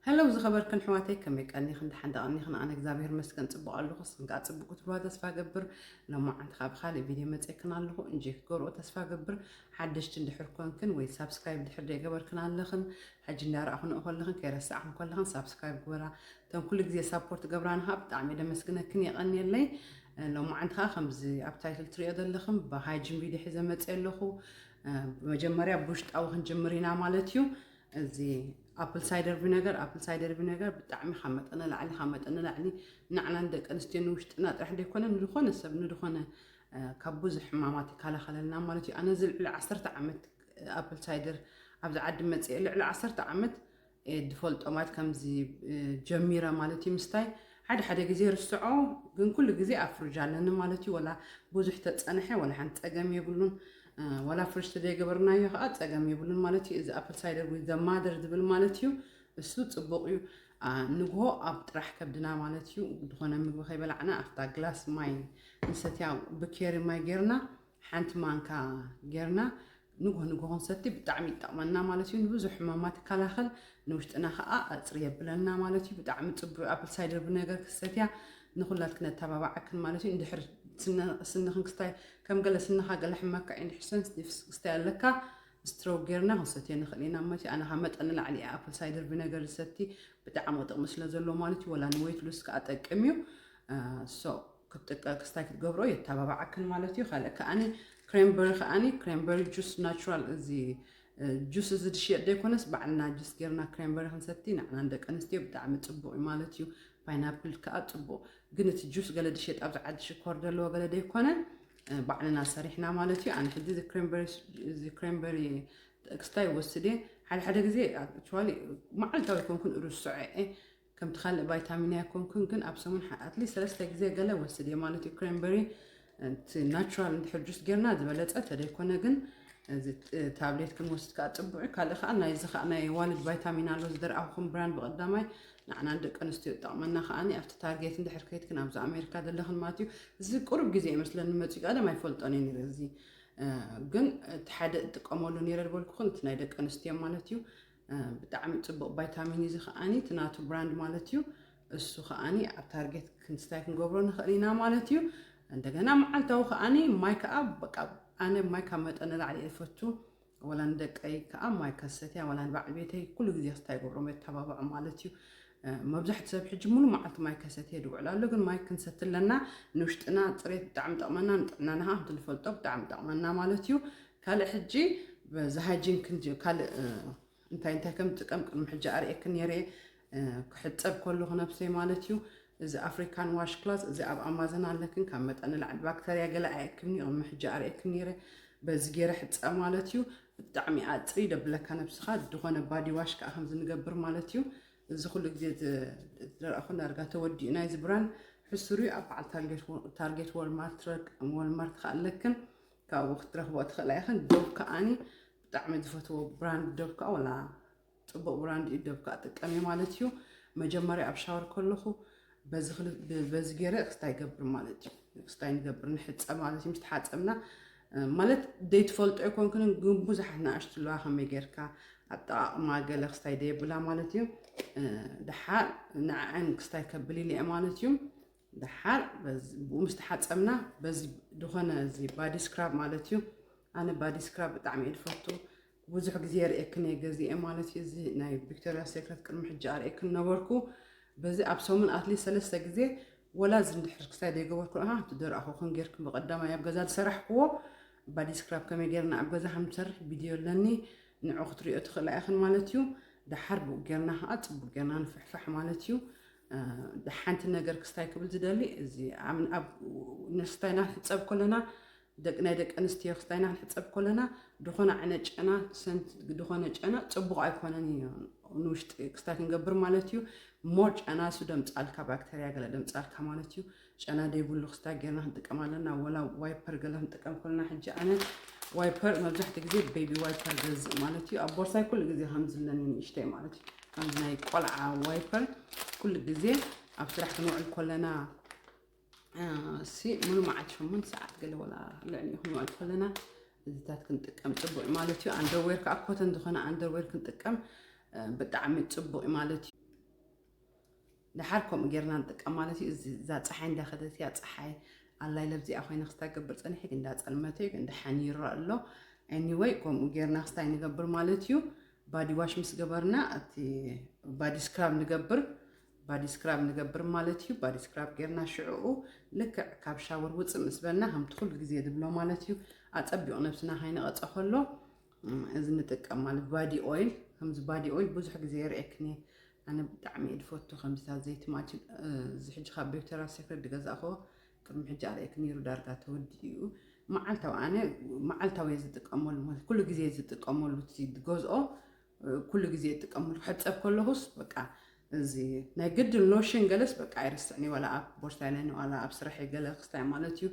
Hello ዝኸበርክን ኣሕዋተይ ከመይ ቀኒኽን ደሓን ዶ ቀኒኽን ኣነ እግዚኣብሔር ይመስገን ጽቡቕ ኣለኹ ንስኽን ከኣ ጽቡቕ ክትብልዋ ተስፋ እገብር ሎማዓንቲ ከኣ ብካልእ ቪድዮ መጺኤክን ኣለኹ እንጂ ክትገብርኦ ተስፋ እገብር ሓደሽቲ እንድሕር ኮንክን ወይ ሳብስክራይብ እንድሕር ዘይገበርክን ኣለኽን ሕጂ እንዳረኣኹንኦ ከለኽን ከይረሳዕኽን ከለኽን ሳብስክራይብ ግበራ እተን ኩሉ ግዜ ሳፖርት ገብራን ከኣ ብጣዕሚ እየ ደመስግነክን የቐንየለይ ሎማዓንቲ ከኣ ከምዚ ኣብ ታይትል ትሪኦ ዘለኽን ብሃይጂን ቪድዮ ሒዘ መጺኤ ኣለኹ መጀመርያ ብውሽጣዊ ክንጅምር ኢና ማለት እዩ እዚ ኣፕል ሳይደር ቪነገር ኣፕል ሳይደር ቪነገር ብጣዕሚ ካብ መጠን ንላዕሊ ካብ መጠን ንላዕሊ ንዓና ንደቂ ኣንስትዮ ንውሽጥና ጥራሕ ዘይኮነ ንዝኾነ ሰብ ንዝኾነ ካብ ብዙሕ ሕማማት ይከላኸለልና ማለት እዩ ኣነ እዚ ልዕሊ ዓሰርተ ዓመት ኣፕል ሳይደር ኣብዚ ዓዲ መፅአ ልዕሊ ዓሰርተ ዓመት ድፈልጦ ማለት ከምዚ ጀሚረ ማለት እዩ ምስታይ ሓደ ሓደ ግዜ ርስዖ ግን ኩሉ ግዜ ኣብ ፍርጅ ኣለኒ ማለት እዩ ወላ ቡዙሕ ተጸነሐ ወላ ሓንቲ ጸገም የብሉን ወላ ፍርጅ ተዘይገበርናዮ ከኣ ጸገም የብሉን ማለት እዩ እዚ ኣፕል ሳይደር ዊዝ ዘ ማደር ዝብል ማለት እዩ እሱ ጽቡቅ እዩ ንግሆ ኣብ ጥራሕ ከብድና ማለት እዩ ዝኾነ ምግቢ ከይበላዕና ኣብታ ግላስ ማይ ንሰትያ ብኬሪ ማይ ጌርና ሓንቲ ማንካ ጌርና ንጉሆ ንጉሆ ክንሰቲ ብጣዕሚ ይጠቅመና ማለት እዩ ንብዙሕ ሕማማት ይከላኸል ንውሽጥና ከዓ ኣፅሪ የብለና ማለት እዩ ብጣዕሚ ፅቡቅ ኣፕል ሳይደር ብነገር ክሰትያ ንኩላት ክነተባባዓክን ማለት እዩ እንድሕር ስንኽን ክስታይ ከም ገለ ስንኻ ገለ ሕመካ እዩ እንድሕር ሰንስ ክስታይ ኣለካ ስትሮክ ጌርና ክንሰትዮ ንኽእል ኢና ማለት እዩ ኣነ ካብ መጠን ንላዕሊ እየ ኣፕል ሳይደር ብነገር ዝሰቲ ብጣዕሚ ጥቕሚ ስለ ዘለዎ ማለት እዩ ወላ ንወይት ሉስ ከዓ ጠቅም እዩ ሶ ክትጥቀ ክስታይ ክትገብሮ የተባባዓክን ማለት እዩ ካልእ ከዓኒ ክሬምበሪ ከዓኒ ክሬምበሪ ጁስ ናቹራል እዚ ጁስ እዚ ዝሽየጥ ዘይኮነስ ባዕልና ጁስ ጌርና ክሬምበሪ ክንሰቲ ንዕና ንደቂ ኣንስትዮ ብጣዕሚ ፅቡቅ እዩ ማለት እዩ ፓይናፕል ከዓ ፅቡቅ ግን እቲ ጁስ ገለ ዝሽየጥ ኣብዚ ዓዲ ሽኮር ዘለዎ ገለ ዘይኮነ ባዕልና ሰሪሕና ማለት እዩ ኣነ ሕዚ እዚ ክሬምበሪ ክስታይ ወስድ እየ ሓደ ሓደ ግዜ ኣክቹዋሊ መዓልታዊ ኮንኩን ርስዖ እየ ከምቲ ካልእ ቫይታሚን ኣይኮንኩን ግን ኣብ ሰሙን ኣትሊስት ሰለስተ ግዜ ገለ ወስድ እየ ማለት እዩ ክሬምበሪ እቲ ናቹራል እንድሕር ጁስ ጌርና ዝበለፀ ተደይኮነ ግን ታብሌት ክንወስድ ከዓ ፅቡዕ እዩ ካልእ ከዓ ናይዚ ከዓ ናይ ዋልድ ቫይታሚን ኣሎ ዝደርኣኹም ብራንድ ብቐዳማይ ንዓና ደቂ ኣንስትዮ ጠቕመና ከዓ ኣብቲ ታርጌት እንድሕር ከይትክን ኣብዚ ኣሜሪካ ዘለኽን ማለት እዩ እዚ ቅሩብ ግዜ ይመስለኒ መፅኡ ቀደም ኣይፈልጦን እዩ ነረ እዚ ግን እቲ ሓደ እጥቀመሉ ነረ ዝበልኩኹን እቲ ናይ ደቂ ኣንስትዮ ማለት እዩ ብጣዕሚ ጽቡቅ ባይታሚን እዚ ከኣኒ እቲ ናቱ ብራንድ ማለት እዩ እሱ ከኣኒ ኣብ ታርጌት ክንስታይ ክንገብሮ ንኽእል ኢና ማለት እዩ እንደገና መዓልታዊ ከኣኒ ማይ ከዓ በቃ ኣነ ማይ ካብ መጠን ንላዕሊ እየ ዝፈቱ ወላ ንደቀይ ከዓ ማይ ከሰትያ ወላ ንባዕሊ ቤተይ ኩሉ ግዜ ክስታይ ይገብሮም የተባብዖ ማለት እዩ መብዛሕቲ ሰብ ሕጂ ሙሉ መዓልቲ ማይ ከሰት የድ ውዕል ኣሎ ግን ማይ ክንሰቲ ኣለና ንውሽጥና ፅሬት ብጣዕሚ ጠቕመና ንጥዕናና ከዓ ከምቲ ንፈልጦ ብጣዕሚ ጠቕመና ማለት እዩ ካልእ ሕጂ በዚ ሃይጂን ክንጅ ካልእ እንታይ እንታይ ከም ዝጥቀም ቅድሚ ሕጂ ኣርእየኪ ነይረ ክሕጸብ ከለኹ ነብሰይ ማለት እዩ እዚ ኣፍሪካን ዋሽ ክላስ እዚ ኣብ ኣማዘን ኣለክን ካብ መጠን ንላዕሊ ባክተርያ ገለ ኣየክምኒ ቅድሚ ሕጂ ኣርእየኪ ነይረ በዚ ገይረ ሕፀ ማለት እዩ ብጣዕሚ ኣፅሪ ደብለካ ነብስኻ ዝኾነ ባዲ ዋሽ ከዓ ከምዚ ንገብር ማለት እዩ እዚ ኩሉ ግዜ ዝረኣኹ ዳርጋ ተወዲኡ ናይ እዚ ብራንድ ሕሱር እዩ ኣብ በዓል ታርጌት ወልማርት ወልማርት ከዓ ኣለክን ካብኡ ክትረኽቦ ትኽእላ ኢኽን ዶብ ከዓኒ ብጣዕሚ ዝፈትዎ ብራንድ ዶብ ከዓ ወላ ፅቡቅ ብራንድ እዩ ዶብ ከዓ ጥቀሚ ማለት እዩ መጀመርያ ኣብ ሻወር ከለኹ በዚ ገይረ ክስታይ ይገብር ማለት እዩ ክስታይ ንገብር ንሕፀ ማለት እዩ ምስ ተሓፀብና ማለት ዘይትፈልጦ ኣይኮንክንን ግን ብዙሓት ንኣሽቱ ኣለዋ ከመይ ጌርካ ኣጠቃቅማ ገለ ክስታይ ደየብላ ማለት እዩ ድሓር ንዕዐን ክስታይ ከብልኒ እየ ማለት እዩ ደሓር ብኡ ምስ ተሓፀብና በዚ ዝኾነ እዚ ባዲ ስክራብ ማለት እዩ ኣነ ባዲ ስክራብ ብጣዕሚ እየ ዝፈቱ ብዙሕ ግዜ ርእክን እየ ገዚአ ማለት እዩ እዚ ናይ ቪክቶሪያ ሴክረት ቅድሚ ሕጂ ኣርእክን ነበርኩ በዚ ኣብ ሰሙን ኣትሊስ ሰለስተ ግዜ ወላ እዚ እንድሕር ክሳይ ዘይገበርኩ ረኣ እቲ ደረኣኹ ክን ጌርክ ብቐዳማይ ኣብ ገዛ ዝሰራሕክዎ ባዲ ስክራብ ከመይ ጌርና ኣብ ገዛ ከም ንሰርሕ ቪድዮ ኣለኒ ንዑ ክትሪኦ ትኽእላ ኢኽን ማለት እዩ ደሓር ብኡ ጌርና ከዓ ፅቡቅ ጌርና ንፍሕፋሕ ማለት እዩ ሓንቲ ነገር ክስታይ ክብል ዝደሊ እዚ ኣብ ንስታይና ክንሕፀብ ከለና ደቂ ናይ ደቂ ኣንስትዮ ክስታይና ክንሕፀብ ከለና ድኾነ ዓይነት ጨና ሰንት ድኾነ ጨና ፅቡቕ ኣይኮነን እዩ ንውሽጢ ክስታይ ክንገብር ማለት እዩ ሞር ጨና እሱ ደምፃልካ ባክተርያ ገለ ደምፃልካ ማለት እዩ ጨና ዘይብሉ ክስታይ ጌርና ክንጥቀም ኣለና ወላ ዋይፐር ገለ ክንጥቀም ኮልና ሕጂ ኣነ ዋይፐር መብዛሕትኡ ግዜ ቤቢ ዋይፐር ገዝእ ማለት እዩ ኣብ ቦርሳይ ኩሉ ግዜ ከምዝለኒ ንእሽተይ ማለት እዩ ከምዚ ናይ ቆልዓ ዋይፐር ኩሉ ግዜ ኣብ ስራሕ ክንውዕል ኮለና ሲ ሙሉ መዓልቲ ሸሞንተ ሰዓት ገለ ወላ ልዕሊ ክንውዕል ኮለና እዚታት ክንጥቀም ፅቡቅ ማለት እዩ ኣንደርዌር ከዓ ኮተን ዝኾነ ኣንደርዌር ክንጥቀም ብጣዕሚ ፅቡቅ ማለት እዩ ደሓር ከምኡ ጌርና ንጥቀም ማለት እዩ እዚ እዛ ፀሓይ እንዳኸደት እያ ፀሓይ ኣላይ ለብዚኣ ኮይና ክስታይ ገብር ፀኒሐ ግን እንዳፀልመተ እዩ ግን ደሓን ይረእ ኣሎ ኤኒወይ ከምኡ ጌርና ክስታይ ንገብር ማለት እዩ ባዲ ዋሽ ምስ ገበርና እቲ ባዲ ስክራብ ንገብር ባዲ ስክራብ ንገብር ማለት እዩ ባዲ ስክራብ ጌርና ሽዕኡ ልክዕ ካብ ሻወር ውፅእ ምስ በልና ከምቲ ኩሉ ግዜ ዝብሎ ማለት እዩ ኣፀቢቑ ነብስና ካይነቐፀ ከሎ እዚ ንጥቀም ማለት ባዲ ኦይል ከምዚ ባዲ ኦይል ብዙሕ ግዜ የርእየክን እየ ኣነ ብጣዕሚ እየ ዝፈቱ ከምዚታት ዘይቲ ማችን እዚ ሕጂ ካብ ቤብተራ ሴክሬት ዝገዛእክዎ ቅድሚ ሕጂ ኣርእየክ ነይሩ ዳርጋ ተወዲኡ መዓልታዊ ኣነ መዓልታዊ እየ ዝጥቀመሉ ማለት ኩሉ ግዜ ዝጥቀመሉ ዝገዝኦ ኩሉ ግዜ ይጥቀመሉ ክሕፀብ ከለኹስ በቃ እዚ ናይ ግድን ሎሽን ገለስ በቃ ኣይርስዕን ዋላ ኣብ ቦርሳይ ናይ ዋላ ኣብ ስራሐይ ገለ ክስታይ ማለት እዩ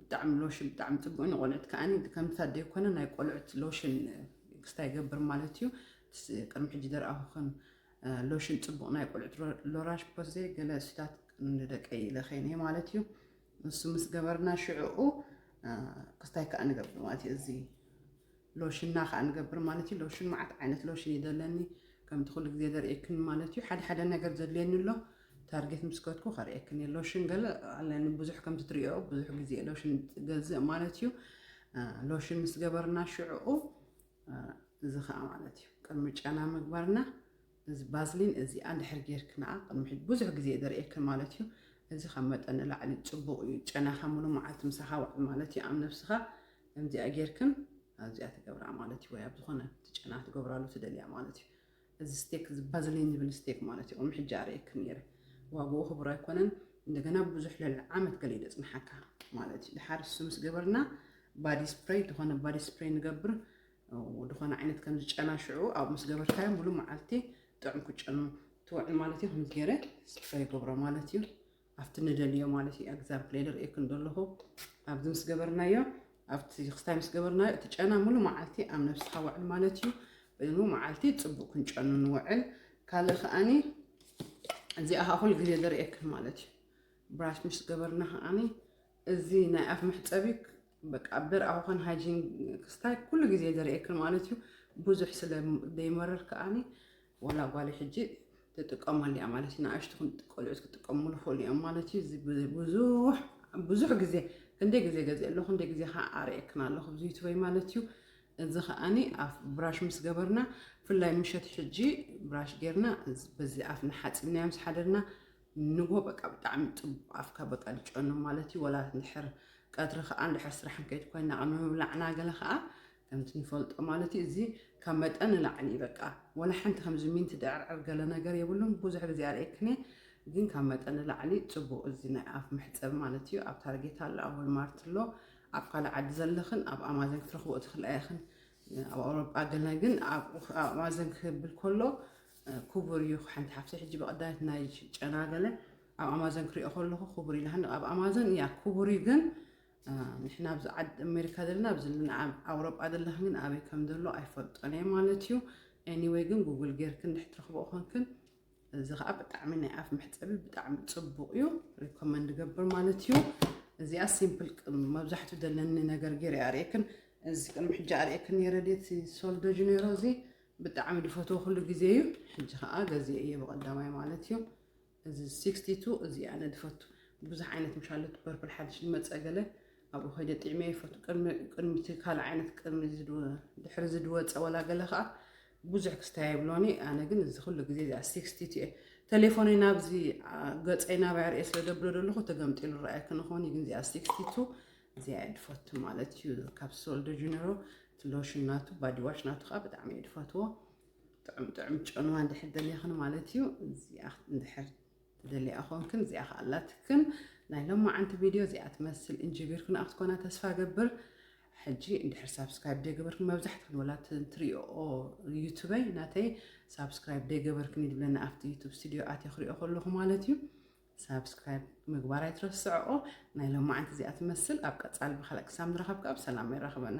ብጣዕሚ ሎሽን ብጣዕሚ ፅቡቅ ንቆልዑት ከዓ ከምታ ዘይኮነ ናይ ቆልዑት ሎሽን ክስታ ይገብር ማለት እዩ ቅድሚ ሕጂ ዘርኣኹኽን ሎሽን ፅቡቅ ናይ ቆልዑት ሎራሽ ፖዜ ገለ ስታት ንደቀይ ለኸይነ ማለት እዩ ንሱ ምስ ገበርና ሽዕኡ ክስታይ ከዓ ንገብር ማለት እዩ እዚ ሎሽና ከኣ ንገብር ማለት እዩ ሎሽን መዓት ዓይነት ሎሽን እዩ ዘለኒ ከምቲ ኩሉ ግዜ ዘርእየክን ማለት እዩ ሓደ ሓደ ነገር ዘድልየኒ ኣሎ ታርጌት ምስ ከትኩ ከርእየክን እየ ሎሽን ገለ ኣለኒ ብዙሕ ከምቲ ትሪኦ ብዙሕ ግዜ ሎሽን ገዝእ ማለት እዩ ሎሽን ምስ ገበርና ሽዕኡ እዚ ከኣ ማለት እዩ ቅድሚ ጨና ምግባርና እዚ ባዝሊን እዚ ኣንድሕር ጌርክንኣ ቅድሚ ሕጂ ብዙሕ ግዜ እየ ዘርእየክን ማለት እዩ እዚ ካብ መጠን ንላዕሊ ጽቡቅ እዩ ጨናኻ ሙሉ መዓልቲ ምሳኻ ውዕል ማለት እዩ ኣብ ነብስኻ ከምዚኣ ጌርክን ኣብዚኣ ትገብራ ማለት እዩ ወይ ኣብ ዝኾነ እቲ ጨና ትገብራሉ ትደልያ ማለት እዩ እዚ ስቴክ እዚ ባዝሊን ዝብል ስቴክ ማለት እዩ ቅድሚ ሕጂ ኣርእየክን ነይረ ዋግኡ ክቡር ኣይኮነን እንደገና ብዙሕ ልዕሊ ዓመት ገለ ይደጽንሓካ ማለት እዩ ድሓር እሱ ምስ ገበርና ባዲ ስፕሬይ ዝኾነ ባዲ ስፕሬይ ንገብር ድኾነ ዓይነት ከምዚ ጨና ሽዑ ኣብ ምስ ገበርካዮ ሙሉ መዓልቲ ጥዑም ክጨኑ ትውዕል ማለት እዩ ከምዚ ገይረ ስፍረ ይገብሮ ማለት እዩ ኣብቲ ንደልዮ ማለት እዩ ኤግዛምፕል ኢለ ርእየክን ዘለኹ ኣብዚ ምስ ገበርናዮ ኣብቲ ክስታይ ምስ ገበርናዮ እቲ ጨና ሙሉ መዓልቲ ኣብ ነብስኻ ውዕል ማለት እዩ በዚ መዓልቲ ፅቡቅ ክንጨኑ ንውዕል ካልእ ከዓኒ እዚኣ ከዓ ኩሉ ግዜ ዘርእየክን ማለት እዩ ብራሽ ምስ ገበርና ከዓኒ እዚ ናይ ኣፍ መሕፀቢ በቃ ብርኣውኸን ሃይጂን ክስታይ ኩሉ ግዜ ዝርእየክን ማለት እዩ ብዙሕ ስለ ዘይመርር ከዓኒ ዋላ ጓሊ ሕጂ ትጥቀመሉ እያ ማለት እዩ ንኣሽቱ ቆልዑት ክጥቀሙሉ ይኽእሉ እዮም ማለት እዩ እዚ ብዙሕ ብዙሕ ግዜ ክንደይ ግዜ ገዚእ ኣለኹ ክንደይ ግዜ ከዓ ኣርእየክን ኣለኹ ብዙ ዩቱበይ ማለት እዩ እዚ ከዓኒ ኣፍ ብራሽ ምስ ገበርና ብፍላይ ምሸት ሕጂ ብራሽ ጌርና በዚ ኣፍ ንሓፂብናዮ ምስ ሓደርና ንግሆ በቃ ብጣዕሚ ጽቡቅ ኣፍካ በቃ ድጨኑ ማለት እዩ ወላ እንድሕር ቀትሪ ከዓ እንድሕር ስራሕ ንከይድ ኮይና ቅድሚ ምብላዕና ገለ ከዓ ከምቲ ንፈልጦ ማለት እዩ እዚ ካብ መጠን ንላዕሊ እዩ በቃ ወላ ሓንቲ ከምዚ ሚንቲ ድዕርዕር ገለ ነገር የብሉን ብዙሕ ግዜ ኣርእየክን ግን ካብ መጠን ንላዕሊ ጽቡቅ እዚ ናይ ኣፍ መሕጸቢ ማለት እዩ ኣብ ታርጌት ኣሎ ኣብ ወልማርት ኣሎ ኣብ ካልእ ዓዲ ዘለኽን ኣብ ኣማዘን ክትረኽቦ ትኽእላ ኢኽን ኣብ ኣውሮጳ ገለ ግን ኣብ ኣማዘን ክብል ከሎ ኩቡር ዩ ሓንቲ ሓፍተይ ሕጂ ብቀዳመት ናይ ጨና ገለ ኣብ ኣማዞን ክሪኦ ከለኩ ኩቡር ኢላሃኒ ኣብ ኣማዞን እያ ኩቡር ዩ ግን ንሕና ኣብዚ ዓድ ኣሜሪካ ዘለና ኣብዚ ኣብ ኣውሮጳ ዘለክን ግን ኣበይ ከም ዘሎ ኣይፈልጦን እየ ማለት እዩ ኤኒወይ ግን ጉግል ጌርክን ድሕር ትረኽቦ ኮንክን እዚ ከዓ ብጣዕሚ ናይ ኣፍ መሕፀቢ ብጣዕሚ ፅቡቅ እዩ ሪኮመንድ ገብር ማለት እዩ እዚኣ ሲምፕል መብዛሕትኡ ዘለኒ ነገር ገይረ ኣርእክን እዚ ቅድሚ ሕጂ ኣርእክን ነረ ሶልዶጅ ነሮ እዚ ብጣዕሚ ድፈትዎ ኩሉ ግዜ እዩ ሕጂ ከኣ ገዜ እየ ብቀዳማይ ማለት እዩ እዚ 62 እዚ ኣነ ድፈቱ ብዙሕ ዓይነት ምሻለት ፐርፕል ሓድሽ ድመፀ ገለ ኣብኡ ከይደ ጥዕመ ይፈቱ ቅድሚቲ ካልእ ዓይነት ቅድሚ ድሕሪ ዝድወፀ ወላ ገለ ከዓ ብዙሕ ክስታይ የብሎኒ ኣነ ግን እዚ ኩሉ ግዜ እዚኣ 62 እየ ተሌፎነይ ናብዚ ገፀይ ናብያ ርእየ ስለ ደብሎ ደለኹ ተገምጢሉ ረኣየ ክንኾን እዩ ግን እዚኣ 62 እዚኣ እየ ድፈቱ ማለት እዩ ካብ ሶልዶ ጅነሮ እቲ ሎሽን ናቱ ባዲዋሽ ናቱ ከዓ ብጣዕሚ እየ ድፈትዎ ጥዑም ጥዑም ጨንዋ እንድሕር ደሊኽን ማለት እዩ እዚኣ እንድሕር ትደልያ ኮንክን እዚኣ ከዓ ኣላትክን ናይ ሎማዓንቲ ቪድዮ እዚኣ ትመስል እንጅቢርክን ኣብ ትኮና ተስፋ ገብር ሕጂ እንድሕር ሳብስክራይብ ደይገበርክን መብዛሕትክን ወላ ትሪኦ ዩቱበይ ናተይ ሳብስክራይብ ደይገበርክን ይብለና ኣብቲ ዩቱብ ስቱድዮ ኣትዮ ክሪኦ ከለኹ ማለት እዩ ሳብስክራይብ ምግባር ኣይትረስዐኦ። ናይ ሎማዓንቲ እዚኣ ትመስል ኣብ ቀፃሊ ብካልእ ክሳብ ንራኸብ ከዓ ብሰላም የራኽበና።